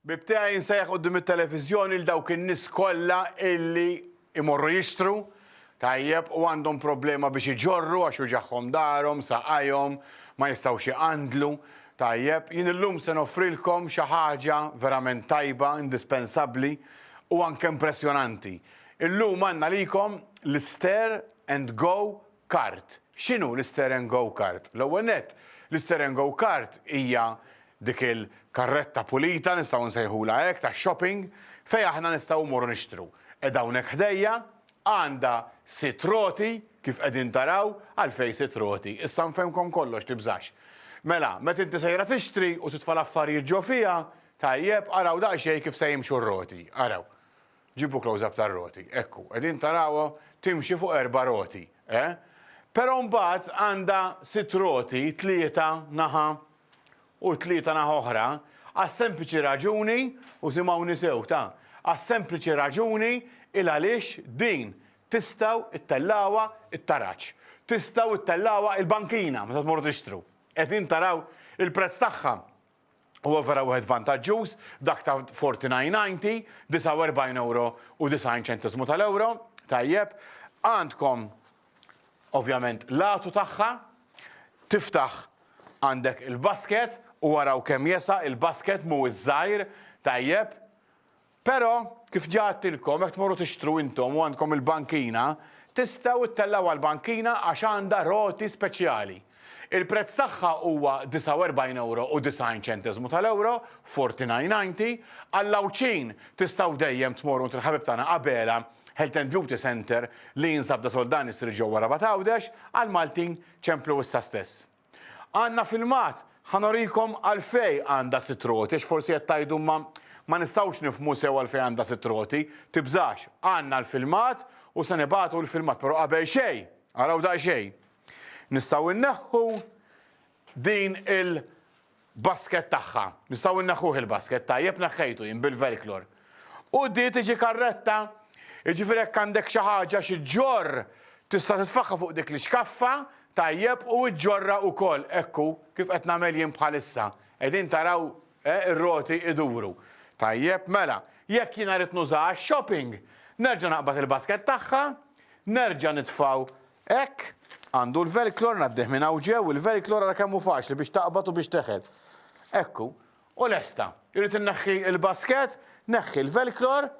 Ħbieb tiegħi nsejjaħ quddiem it-televiżjoni 'l dawk in-nies kollha illi jmorru jixtru, tajjeb, u għandhom problema biex iġorru għax uġagħhom darhom, saqajhom, ma jistgħux iqandlu, tajjeb, jien illum se noffrilkom xi ħaġa verament tajba, indispensabbli, u anke impressjonanti. Illum għandna għalikom l-Stare and Go Kart, X'inhu l-isteren go-kart? L-ewwel nett, l-isteren go-kart hija dik il-karretta pulita, nistgħu nsejħulha hekk, tax-shopping, fejn aħna nistgħu mmorru nixtru. Qiegħda hawnhekk ħdejja, għandha sitt roti, kif qegħdin taraw, għalfejn sitt roti? Issa nfehmkom kollox, tibżax. Mela, meta inti sejra tixtri u titfa' l-affarijiet ġo fiha, tajjeb, araw daqsxejn kif se jimxu r-roti, araw. Ġibu close up tar-roti, ekku, qegħdin tarawha timxi fuq erba' roti, eh? Però mbagħad għandha sitt roti, tlieta naħa u tlieta naħa oħra, għas-sempliċi raġuni, u simgħuni sew, ta, għas-sempliċi raġuni il għaliex din tistgħu ttellgħuha t-taraġ, tistgħu ttellgħuha l-bankina meta tmorru tixtru. Qegħdin taraw il-prezz tagħha? Huwa vera wieħed vantaġġjuż, dak ta' 49.90, 49 ewro u 90 ċenteżmu tal-ewro, tajjeb. Għandkom ovvjament l-għatu tagħha, tiftaħ għandek il-basket u araw kemm jesa' il-basket mhuwiex żgħir, tajjeb. Però, kif ġa għadtilkom, jekk tmorru tixtru intom u għandkom il-bankina, tistgħu ttellgħuha l-bankina għax għandha roti speċjali. Il-prezz tagħha huwa 49 ewro u 90 ċenteżmu tal-ewro, 49.90, għall-Għawdxin tistgħu dejjem tmorru għand il-ħabib tagħna Abela Health and Beauty Centre li jinsab Da Soldani Street ġewwa Rabat Għawdex, għall-Maltin ċemplu issa stess. Għandna filmat, ħa norikom għalfejn għandha sitt roti għax forsi qed tgħidu imma ma nistgħux nifhmu sew għalfejn għandha sitt roti. Tibżax, għandna l-filmat u se nibagħtu l-filmat però qabel xejn, araw daqsxejn, nistgħu nneħħu din il- Basket tagħha. Nistgħu inneħħuh il-basket, tajjeb neħħejtu jien bil-velklor. U di tiġi karretta, jiġifieri jekk għandek xi ħaġa xi ġġorr tista' titfagħha fuq dik l-ixkaffa, tajjeb, u ġġorrha wkoll, hekk hu, kif qed nagħmel jien bħalissa. Qegħdin taraw eh, ir-roti iduru. Tajjeb, mela, jekk jiena rrid nużaha għax-shopping, nerġa' naqbad il-basket tagħha, nerġa' nitfgħu Hekk, għandu l-velklor, ngħaddih minn hawn ġew, il-velklor ara kemm hu faċli biex taqbad u biex teħel. Hekk hu. U lesta. Irrid inneħħi l-basket, neħħi l-velklor,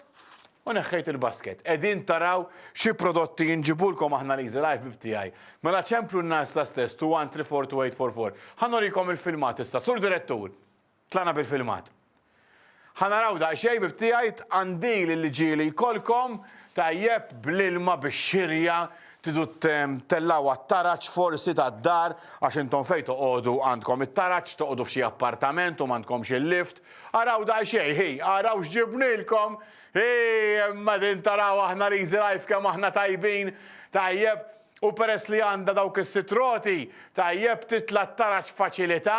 u neħħejt il-basket. Qegħdin taraw xi prodotti inġibulkom aħna l-Easy Life Bib tiegħi. Mela ċemplu n-nagħżla stess 2134844. Ħa norikom il-filmat issa, Sur Direttur! Tlaqna bil-filmat. Ħa naraw daqsxejn bib tiegħi tqandil il-ġieli jkollkom tajjeb bl-ilma bix-xirja tidu tellgħu għat-taraġ forsi tad-dar għax intom fejn toqogħdu għandkom it-taraġ toqogħdu f'xi appartament u m'għandkomx il-lift. Araw daqsxejn hi araw x'ġibnilkom hi imma din taraw aħna l-easy life kemm aħna tajbin tajjeb. U peress li għandha dawk is-sitt roti, tajjeb titla' tara x'faċilità,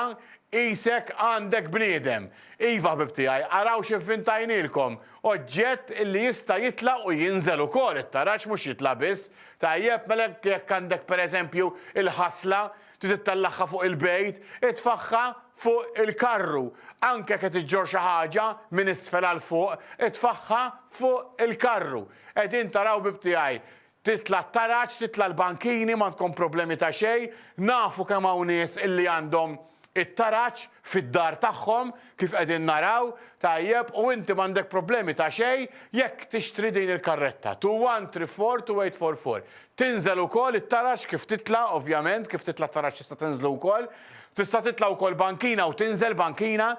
qisek għandek bniedem. Iva, ħbieb tiegħi, araw x'ivvintajnielkom, oġġett li jista' jitla' u jinżel ukoll, it-taraġ mhux jitla' biss. Tajjeb, mela jekk għandek pereżempju l-ħasla, trid ittellagħha fuq il-bejt, itfagħha fuq il-karru. Anke jekk qed iġġorr xi ħaġa minn isfel għal fuq, itfagħha fuq il-karru. Qegħdin taraw, ħbieb tiegħi, Titla' t-taraġ, titla' l-bankini, m'għandkom problemi ta' xejn, nafu kemm hawn nies illi għandhom it-taraġ fid-dar tagħhom, kif qegħdin naraw, tajjeb, u inti m'għandek problemi ta' xejn jekk tixtri din il-karretta, two one three four two eight four four. Tinżel ukoll it-taraġ kif titla' ovvjament, kif titla' t-taraġ tista' tinżlu wkoll, tista' titla' wkoll bankina u tinżel bankina,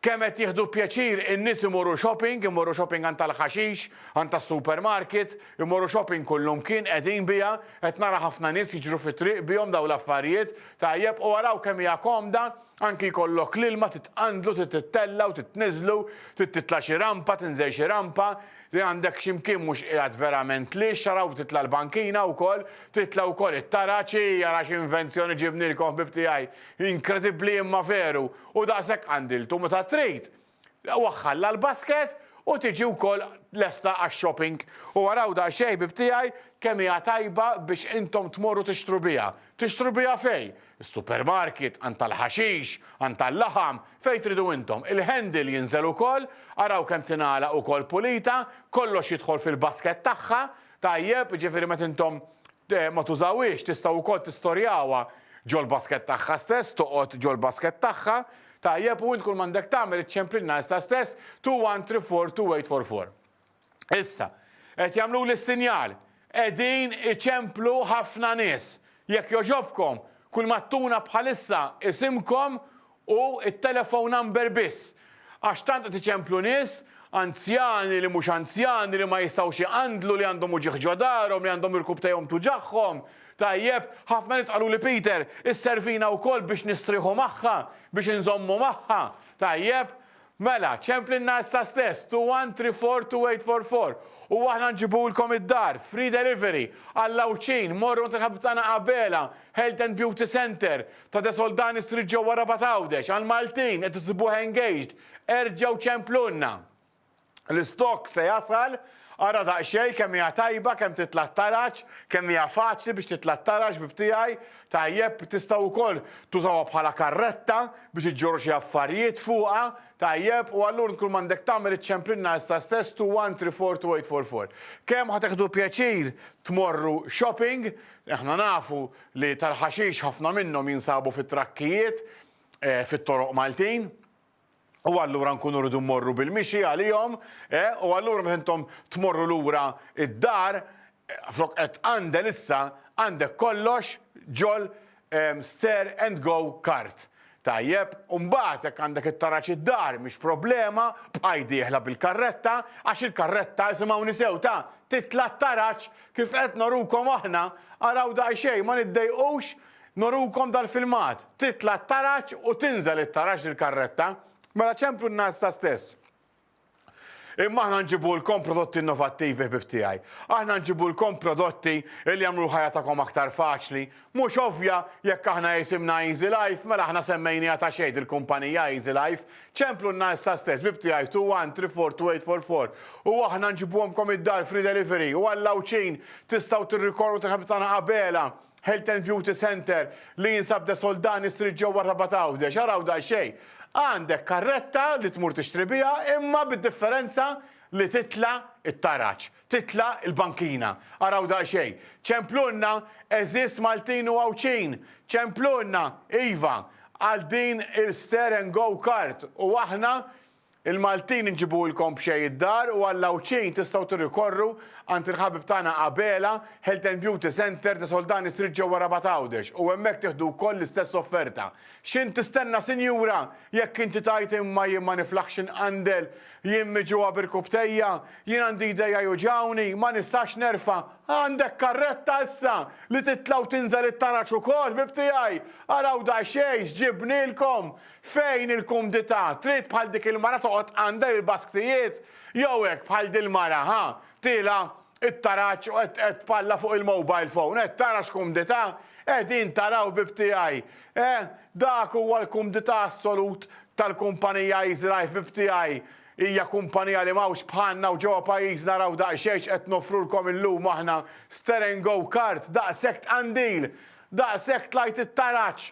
kemm qed jieħdu pjaċir in-nies imorru shopping, imorru shopping għand tal-ħaxix, għand tas-supermarket, Imorru shopping kullum kien qegħdin biha, qed nara ħafna nies jiġru fit-triq bihom dawn l-affarijiet, tajjeb u araw kemm hija komda, anki jkollok l-ilma titqandlu trid tittella' u trid tniżżlu, trid titla' xi rampa, tinżel xi rampa, li għandek xi mkien mhux qiegħed verament lhiex, araw titla' l-bankina wkoll, titla' wkoll it-taraġ, ii ara xi invenzjoni ġibnilkom ħbieb tiegħi, inkredibbli imma veru, u daqshekk qandiltu meta trid, Waħħal la l-basket u tiġi wkoll lesta għax-shopping. U araw daqsxejn ħbieb tiegħi kemm hija tajba biex intom tmorru tixtru biha. Tixtru biha fejn? Is-supermarket, għand tal-ħaxix, għand tal-laħam, fejn tridu intom. Il-handle jinżel ukoll, araw kemm tingħalaq ukoll pulita, kollox jidħol fil-basket tagħha, tajjeb, jiġifieri meta intom ma tużawhiex tistgħu wkoll tistorjawha ġol-basket tagħha stess, toqgħod ġol-basket tagħha, Tajjeb, u int kull m'għandek tagħmel iċċemplilna issa stess, two one three four two eight four four. Issa, qed jagħmluli s-sinjal, qegħdin iċemplu ħafna nies. Jekk jogħġobkom, kull ma tuna bħalissa isimkom u t-telephone number biss. Għax tant qed iċemplu nies, anzjani li mhux anzjani li ma jistgħux iqandlu li għandhom uġigħ ġo darhom li għandhom irkub tejhom tuġagħhom, Tajjeb, ħafna nies qaluli Peter, isservina wkoll biex nistrieħu magħha, biex inżommu magħha. Tajjeb? Mela, ċemplilna issa stess, two one three four two eight four four. U aħna nġibulkom id-dar, free delivery, għall-Għawdxin, morru għand il-ħabib tagħna Abela, Health and Beauty Center, ta' De Soldani Street ġewwa Rabat Għawdex, għall-Maltin qed issibuh engaged, erġgħu ċemplulna. L-istokk se jasal, ara daqsxejn kemm hija tajba, kemm titla' t-taraġ, kemm hija faċli biex titla' t-taraġ bib tiegħi, tajjeb, tistgħu wkoll tużawha bħala karretta biex iġġorru xi affarijiet fuqha, tajjeb, u allur int kull m'għandek tagħmel iċċemplinha issa stess to one three four two eight four four. Kemm ħa teħdu pjaċir tmorru shopping, aħna nafu li tal-ħaxix ħafna minnhom jinsabu fit-trakkijiet fit-toroq Maltin, u allura nkunu rridu mmorru bil-mixi għalihom, u allura meta intom tmorru lura d-dar, flok qed tqandel issa, għandek kollox ġol stare and go cart. Tajjeb, u mbagħad jekk għandek it-taraġ id-dar mhix problema, bqaj dieħla bil-karretta, għax il-karretta, isimgħuni sew, ta, titla' t-taraġ kif qed norukom aħna, araw daqsxejn, ma niddejqux Norukom dal-filmat, titla' t-taraġ u tinżel it-taraġ l-karretta, mela ċemplu n-nas ta' stess. Imma aħna nġibulkom prodotti innovattivi ħbib tiegħi. Aħna nġibulkom prodotti li jagħmlu l-ħajja tagħkom aktar faċli. Mhux ovvja, jekk aħna isimna Easy Life, mela aħna semmejniha ta' xejn il-kumpanija Easy Life. Ċemplu n-nas ta' stess, ħbib tiegħi 2134244 u aħna nġibuhomkom id-dar free delivery u għall-Għawdxin tistgħu tirrikorru tal-ħabib tagħna Abela. Health and Beauty Centre li jinsab De Soldani Street ġewwa Rabat Għawdex. Araw daqsxejn. Għandek karretta li tmur tixtri biha imma bid-differenza li titla' t-taraġ, titla' l-bankina. Araw daqsxejn. Ċemplulna għeżież Maltin u Għawdxin, ċemplulna, iva, għal din il-Stare and Go Cart u aħna Il-Maltin inġibuhulkom b'xejn id-dar u għall-Għawdxin tistgħu tirrikorru għand il-ħabib tagħna Abela Health and Beauty Centre ta' Soldani Street ġewwa Rabat Għawdex u hemmhekk tieħdu wkoll l-istess offerta. X'int tistenna sinjura? Jekk inti tgħid imma jien ma niflaħx inqandel, jien miġugħa b'irkubtejja, jien għandi jdejja juġgħuni, ma nistax nerfa', għandek karretta issa li titla' u tinżel it-tanaġ ukoll ħbib tiegħi! Araw daqsxejn x'ġibnilkom! Fejn il-kumdità, trid bħal dik il-mara toqgħod għandha il-basktijiet jew hekk bħal dil-mara, ha, tielgħa t-taraġ u qed qed tpalla fuq il-mobile phone, qed tara x'kumdità, qegħdin taraw ħbieb tiegħi, eh, dak huwa l-kumdità assolut tal-kumpanija Easy Life ħbieb tiegħi, hija kumpanija li m'hawnx bħalna u ġewwa pajjiżna raw daqsxejn x'qed noffrulkom illum aħna, Steren Go Kart, daqshekk tqandil, daqshekk tlajt it-taraġ,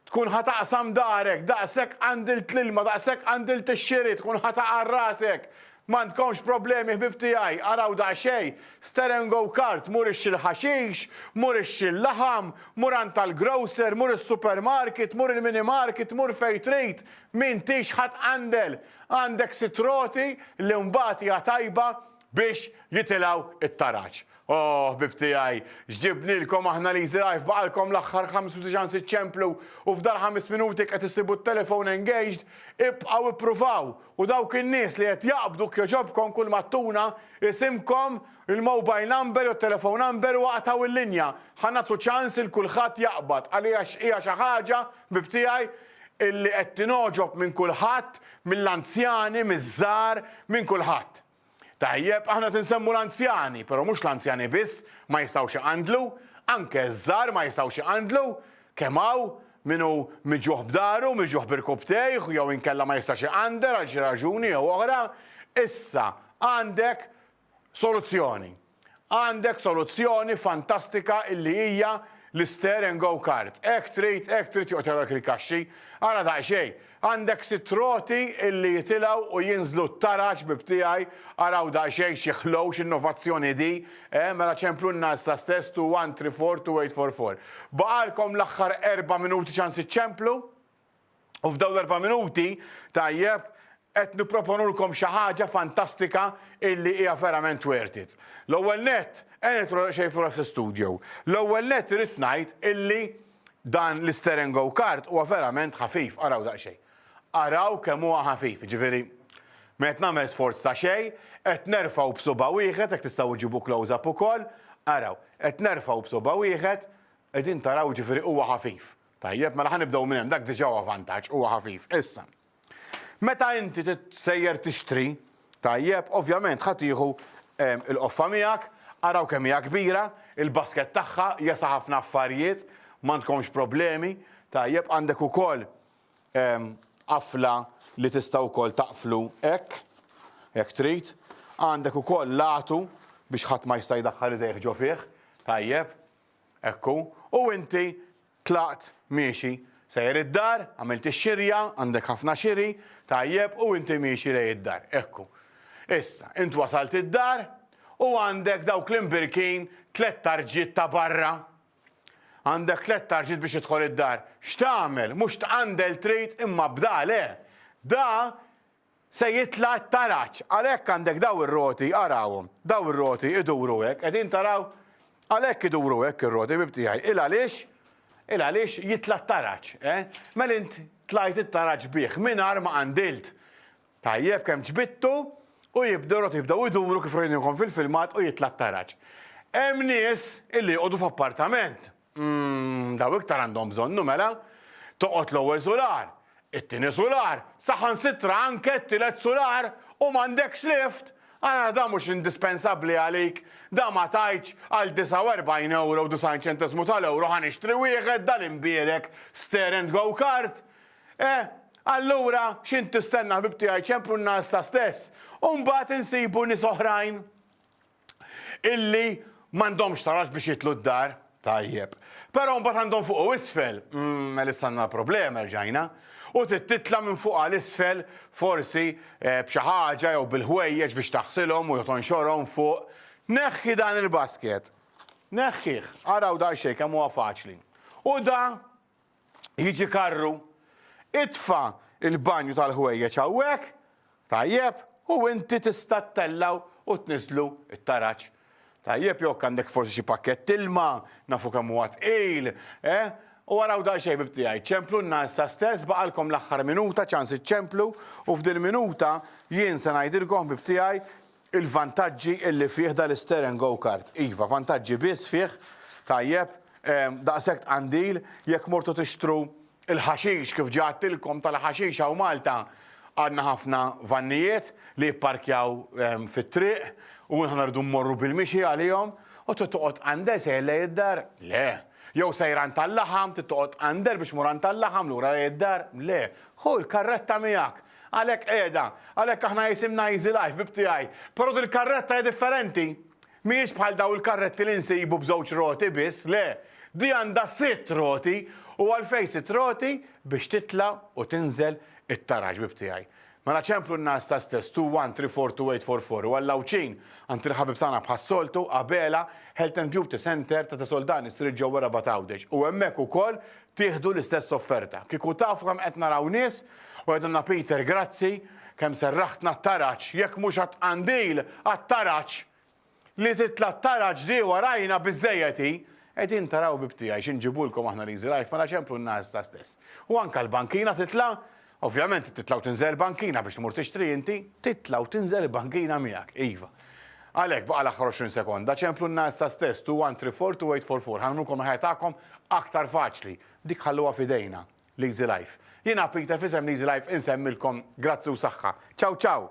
Tkun ħa taqsam darek, daqshekk qandilt l-ilma, daqshekk qandilt ix-xiri, tkun ħa taqgħar rasek. M'għandkomx problemi ħbieb tiegħi, araw daqsxejn, ster and go cart, mur ixtri l-ħaxix, mur ixtri l-laħam, mur għand tal-grocer, mur is-supermarket, mur il-minimarket, mur fejn trid, m'intix ħa tqandel. Għandek sitt roti li mbagħad hija tajba biex jitilgħu t-taraġ. O, ħbieb tiegħi, x'ġibnielkom aħna li jżrgħajh baqgħalkom l-aħħar 95 iċċemplu u f'dal-ħames minuti qed issibu t-telefon engaged, ibqgħu ippruvaw u dawk in-nies li qed jaqbdu jekk jogħġobkom kull ma ttuna isimkom, il-mobile number jew t-telephone number u aqtgħu l-linja. Ħa nagħtu ċans lil kulħadd jaqbad għaliex hija xi ħaġa, ħbieb tiegħi, illi qed tingħoġob minn kulħadd, mill-anzjani, miż-żgħar, minn kulħadd. Tajjeb, aħna tinsemmu l-anzjani, pero mhux l-anzjani biss ma jistgħux iqandlu, anke ż-żgħar ma jistgħux iqandlu, kemm hawn min hu miġjuħ b'daru, miġjuħ b'irkubtejh jew inkella ma jistax iqandel għal xi raġuni jew oħra, issa għandek soluzzjoni. Għandek soluzzjoni fantastika illi hija l-Stare and Go Kart. Hekk trid, hekk trid joqgħod jagħrulek il-kaxxi. Ara daqsxejn, għandek sitt roti illi jitilgħu u jinżlu tara ħbieb tiegħi, araw daqsxejn xi ħlow, x'innovazzjoni di, eh, mela ċemplulna issa stess two one three four two eight four four. Baqgħalkom l-aħħar erba' minuti ċans iċċemplu. U f'dawn l-erba' minuti, tajjeb, qed nipproponulkom xi ħaġa fantastika illi hija verament worth it. L-ewwel nett, ejja nidħlu daqsxejn fl-Us Studio. L-ewwel nett irrid ngħid illi dan l-Steren Go Kart huwa verament ħafif, araw daqsxejn. Araw kemm huwa ħafif, jiġifieri ma qed nagħmel sforz ta' xejn, qed nerfgħu b'subgħa wieħed, jekk tistgħu iġġibu close up ukoll, araw, qed nerfgħu b'subgħa wieħed, qegħdin taraw jiġifieri huwa ħafif. Tajjeb, mela ħa nibdew minn hemm, dak diġà huwa vantaġġ, huwa ħafif. Issa, meta inti sejjer tixtri, tajjeb, ovvjament ħa tieħu ehm, il-qoffa miegħek, araw kemm hija kbira, il-basket tagħha jesa' ħafna affarijiet, m'għandkomx problemi, tajjeb għandek ukoll ehm, qafla li tista' wkoll taqflu hekk, hekk trid, għandek ukoll latu biex ħadd ma jista' jdaħħal idejh ġo fih, tajjeb, Hekk hu, u inti tlaqt miexi. Sejjer id-dar, għamilt ix-xirja, għandek ħafna xiri, tajjeb, u inti miexi lejn id-dar. Hekk hu. Issa, int wasalt id-dar, u għandek dawk l-imbirkin tliet tarġiet ta' barra. Għandek tliet tarġiet biex tidħol id-dar. X'tagħmel? Mhux tqandel trid, imma b'da le. Da Se jitla' t-taraġ. Għalhekk għandek dawn ir-roti, arawhom, dawn ir-roti iduru hekk, qegħdin taraw? Għalhekk iduru hekk ir-roti, ħbib tiegħi. Il għaliex? Il għaliex jitla' t-taraġ, eh? Mela int tlajt it-taraġ bih mingħajr ma qandilt. Tajjeb, kemm ġbidtu, u jibdew r-roti jibdew iduru kif rajniehom fil-filmat u jitla' t-taraġ. Hemm nies illi joqogħdu f'appartament. Mmm, daw iktar għandhom bżonnu mela. Toqgħod l-ewwel sular, it-tieni sular, saħansitra anke t-tielet sular u m'għandekx lift! Ara dan mhux indispensabbli għalik, dan ma tgħidx għal 49 ewro u 90 ċenteżmu tal-ewro ħa nixtri wieħed dal-imbierek stair and go kart! Eh, allura x'int tistenna ħbib tiegħi ċemprunna issa stess u mbagħad insibu nies oħrajn! illi m'għandhomx tarax biex jitlu d-dar. Tajjeb. Però mbagħad għandhom fuq u isfel, mm, mela istanna l-problema rġajna. U titla minn fuq għal isfel forsi eh, b'xi ħaġa jew bil-ħwejjeġ biex taħsilhom u jotonxorhom fuq. Neħħi dan il-basket. Neħħih, araw da xejn kemm huwa faċli. U da jiġi karru, itfa' l-banju tal-ħwejjeġ hawnhekk, tajjeb, u inti tista' ttellgħu u tniżżlu t-taraġ. Tajjeb, jew jekk għandek forsi xi pakkett ilma, nafu kemm huwa tqil, eh? U araw daqsxejn ħbib tiegħi, ċemplunna issa stess, baqgħalkom l-aħħar minuta, ċans iċċemplu, u f'dil-minuta jien se ngħidilkom ħbib tiegħi Il-vantaġġi li fih dal-isteren go-kart. Iva, vantaġġi biss fih, tajjeb, daqshekk tqandil, jekk mortu tixtru l-ħaxix kif ġa għedtilkom tal-ħaxix hawn Malta għandna ħafna vannijiet li jipparkjaw fit-triq u aħna rridu mmorru bil-mixi għalihom u trid toqgħod tqandel sejjer lejn id-dar? Le. Jew sejjer għand tal-laħam trid toqgħod tqandel biex tmur għand tal-laħam lura lejn id-dar? Le. Ħu l-karretta miegħek. Għalhekk qiegħda, għalhekk aħna jisimna Easy Life, bib tiegħi. Però dil-karretta hija differenti. Mhijiex bħal dawn il-karretti li nsibu b'żewġ roti biss, le. Di għandha sitt roti, u għalfejn sitt roti? Biex titla' u tinżel it-taraġ, bib tiegħi. Mela ċemplu n-nagħaż ta' stess, two one three four two eight four four, u għal Għawdxin, għand il-ħabib tagħna bħas-soltu, Abela, Health and Beauty Centre ta' Tesoldani Street ġewwa Rabat Għawdex, u hemmhekk ukoll tieħdu l-istess offerta. Kieku tafu kemm qed naraw nies u jgħidulna Peter grazzi kemm serraħtna t-taraġ, jekk mhux għat-tqandil, għat-taraġ! Li titla' t-taraġ di warajna biżżejjed hi! Qegħdin taraw bib tiegħi xi nġibulkom aħna l-Easy Life mela ċemplu n-naħes issa stess. U anke l-bankina titla' Ovvjament trid titla' u tinżel il-bankina biex tmur tixtri inti. Titla' u tinżel il-bankina miegħek, iva. Għalhekk, baqa' l-aħħar 20 sekonda, ċemplunna issa stess, two one three four, two eight four four. Ħanamlulkom il-ħajja tagħkom aktar faċli. Dik ħalluha f'idejna. L-Easy Life. Jiena Peter f'isem l-Easy Life insemmilkom grazzi u saħħa. Ciao ciao!